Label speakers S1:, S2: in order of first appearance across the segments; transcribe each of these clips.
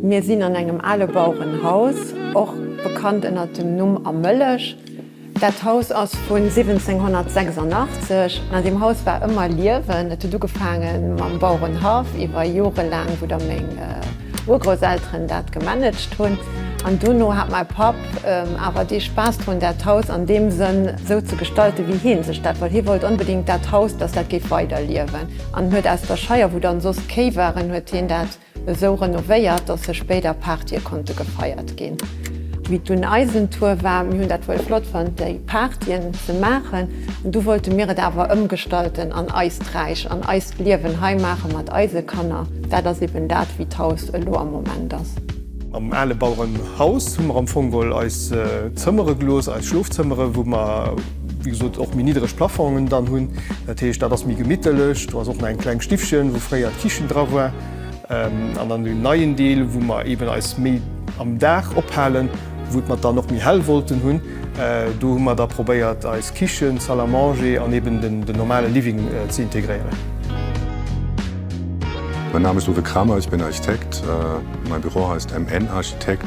S1: Mir sinn an engem ale Bauerenhaus, och bekannt ënnert dem Numm A Mëllech. Dat Haus ass vun 1786. An deem Haus war ëmmer Liewen. Et huet ugefaange mam Bauerenhaff iwwer Jore laang, wou da meng Urgrousselteren dat gemanagt hunn. An dono hat mäi Papp awer dee Spaass drun, dat Haus an deem Sënn esou ze gestalten, wéi hie sech dat wollt. Hie wollt onbedéngt dat Haus, dass dat géif weiderliewen an huet aus der Scheier, wou dann soss d'Kéi waren, huet hien dat Esou renovéiert, dass sech béider Partye konnte gefeiert ginn. Wéi dunn eisen Tour war, mir hunn dat wuel flott fonnt déi Partyen ze maachen, du wollte mir et awer ëmgestalten an eist Räich an eist Liewen hei maache mat eise Kanner. Dat ass eben dat wéi d'Haus elo am Moment ass. Am ale
S2: Bauerenhaus hu mer am Fong wuel eis Zëmmere gelooss, eis Schlofzëmmere wou mer. wéi gesot och méi niddreg Plafongen dann hunn. Dat heescht, dat ass méi gemittelech. Do ass och nach eng kleng Stiffchen, wou fréier d'Kichen dra war. An dann den neien Deel, wou mer eeben eis méi am Dag ophalen, wou et mer dann och méi hell wollten hunn. Do hu mer da probéiert, eis Kichen, d'Salle à manger an eeben den normale Living ze integréieren.
S3: Mein Name ist Uwe Kramer, ich bin Architekt. Mein Büro heißt MN Architekt.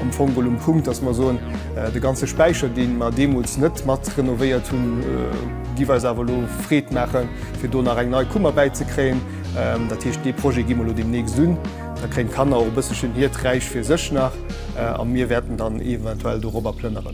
S2: Am Fong geholl um Punkt, dass mer soen, de ganze Späicher, dee mer deemools net mat renovéiert hunn, géif eis awer elo Freed maachen, fir do nach eng nei Kummer bäizekréien. Dat heescht, dee Projet gi mer elo deemnächst un. Da kréien d'Kanner och e bësselchen hiert Räich fir sech nach a mir wäerten dann eventuell dorobber plënneren.